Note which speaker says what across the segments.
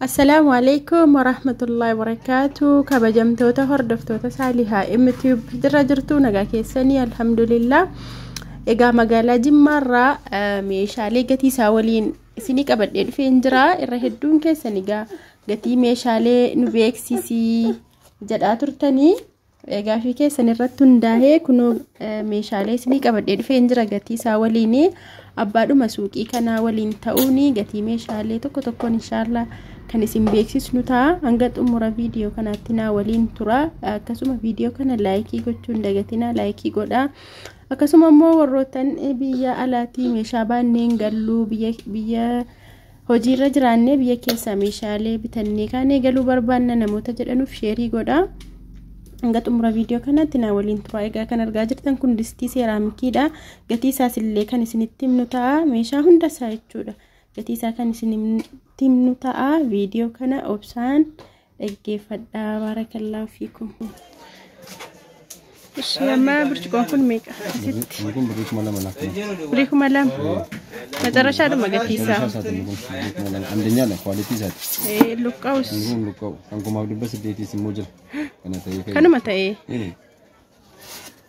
Speaker 1: Assalaamu alaikum warahmatullahi wabarakaatu kabajamtoota hordoftoota saalihaa mtub jirra jirtu nagaa keessanii alhamdulillah egaa magaalaa jimmaarraa meeshaalee gatii isaa waliin isinii qabadhee dhufeen jira irra hedduun keessan egaa gatii meeshaalee nu beeksisii jedhaa turtanii Gaafii keessan irratti hundaa'ee kunoo meeshaalee isinii qabadhee dhufeen jira gatii isaa waliin abbaadhuma suuqii kanaa waliin ta'uun gatii meeshaalee tokko tokkoon inshaallah kan isin beeksisnu ta'a hanga xumura viidiyoo kanaatti naa waliin tura akkasuma viidiyoo kana laayikii gochuu hin dagatinaa laayikii godhaa akkasuma immoo warroottan biyya alaatii meeshaa baanneen galluu biyya biyya Hojiirra jiraannee biyya keessaa meeshaalee bitannee kaanee galuu barbaanna namoota jedhanuuf sheerii godhaa. Hanga xumura viidiyoo kanaatti naa waliin turaa egaa kan argaa jirtan kun distii seeraamikiidha. Gatii isaas illee kan isinitti himnu ta'a. Meeshaa hunda isaa jechuudha. Gatii isaa kan isinitti himnu ta'a. Viidiyoo kana obsaan dhaggeeffadhaa baarakallaahu fiikum. Ishii amma burcuqoon kun meeqa asitti? Kun birrii
Speaker 2: kuma lama laaf kana. Birrii kuma lama.
Speaker 1: Macarashaadhuma gatiisaa. Isaa isaati kun birrii kuma lama.
Speaker 2: Andanyaadha kwaalitii isaati. Eh, Luqqa'us
Speaker 1: Inni kun luqqa'u. Kan
Speaker 2: kumaaf dhibba saddeetiis immoo jira. Kana ta'ee ka'e. kanuma
Speaker 1: ta'ee. Ee.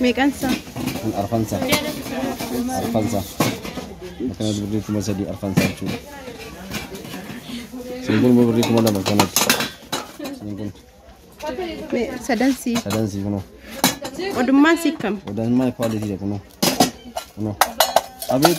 Speaker 2: Meeqan
Speaker 1: isaa? Kun arfansa.
Speaker 2: Arfansa. Akkana birrii kuma sadii arfansa jechuudha. Siin kun immoo birrii kuma lama kanatti. Siin kun Me- Sadan
Speaker 1: sii. sadan sii kunoo.
Speaker 2: Odummaan
Speaker 1: sii kam? Odaan maal kwaalitii dha
Speaker 2: kunoo. Kunoo. Abeet.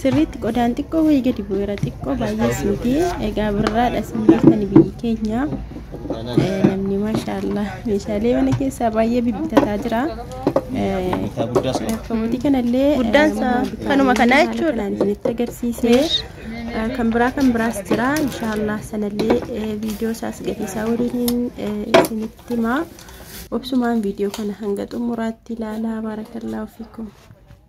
Speaker 1: Sirriitti qodaan xiqqoo wayii gadi bu'eera xiqqoo baay'ees miti egaa birraadha isin beektani biyyi keenya Eh, namni maashaallah meeshaalee mana keessaa baay'ee bibbitataa jira Eh, Isaa guddaas qaba. Kabotii kanallee Guddaan eh, isaa bitaa-
Speaker 3: kanuma kanaa haala jechuudha. kanaan isinitti agarsiise
Speaker 1: Eh, kan biraa kan biraas jira inshaallah sanallee eh, viidiyoo isaas gatii isaa waliin eh, isinitti himaa obsumaan viidiyoo kana hanga xumuraatti ilaalaa baarakallaahu fiikum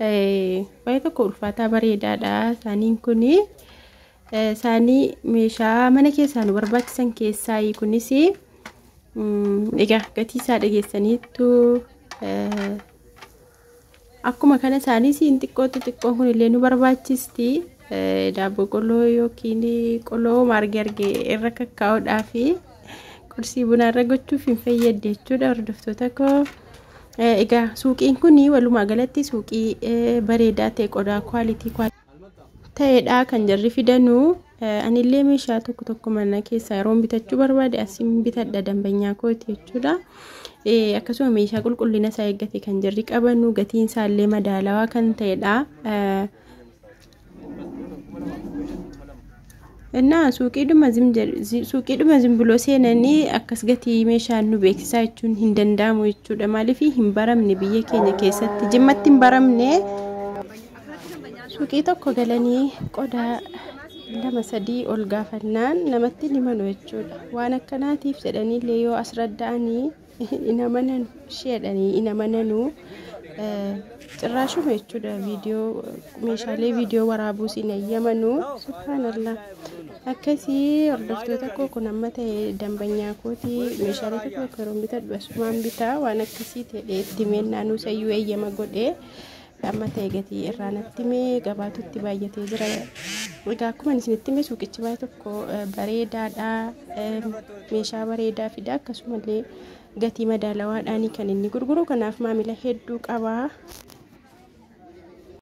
Speaker 1: Baay'ee tokko ulfaataa bareedaadha saaniin kun saanii meeshaa mana keessaa nu barbaachisan keessaa kunis egaa gatii isaa dhageessaniittu akkuma kana saaniis hin xiqqootti xiqqoon kun illee nu barbaachisti daabboo qoloo yookiin qoloo marge arge irra kakkaa'uudhaa fi qursii bunaa irra gochuuf hin fayyadde jechuudha hordoftoota koo. Egaa suuqiin kun walumaa galatti suuqii bareedaa ta'e qodaa kwaalitii ta'edha kan jarri fidanu. Anillee meeshaa tokko tokko mana keessaa yeroo bitachuu barbaade asiin bitadha dambanyaa kooti jechuudha. Akkasuma meeshaa qulqullina isaa eeggate kan jarri qabanu gatiin isaallee madaalawaa kan ta'edha. Innaa suuqiidhuma zim jedh- zi- suuqiidhuma zimbiloo seenanii akkas gatii meeshaa nu beeksisaa jechuun hin danda'amu jechuudha. Maaliif hin baramne biyya keenya keessatti jimmatti hin baramne suuqii tokko galanii qodaa lama sadii ol gaafannaan namatti hin himanu jechuudha. Waan akkanaatiif jedhanii illee yoo as radda'anii hin amananu isheedhani hin amananu cirraashuma jechuudha viidiyoo meeshaalee viidiyoo waraabuus hin eeyyamanu subhaanallah akkasii hordoftoota koo kun amma ta'e dambanyaa kooti meeshaalee tokko tokko yeroo bitadhu asumaan bitaa waan akkasii ta'e itti meennaa nuusayyuu eeyyama godhee Amma ta'e gatii irraa natti mee gabaatutti baay'atee jira. Egaa akkuma isinitti mee suuqichi baay'ee tokko bareedaadha. Meeshaa bareedaa fida akkasumallee gatii madaalawaadhaanii kan inni gurguru kanaaf maamila hedduu qaba.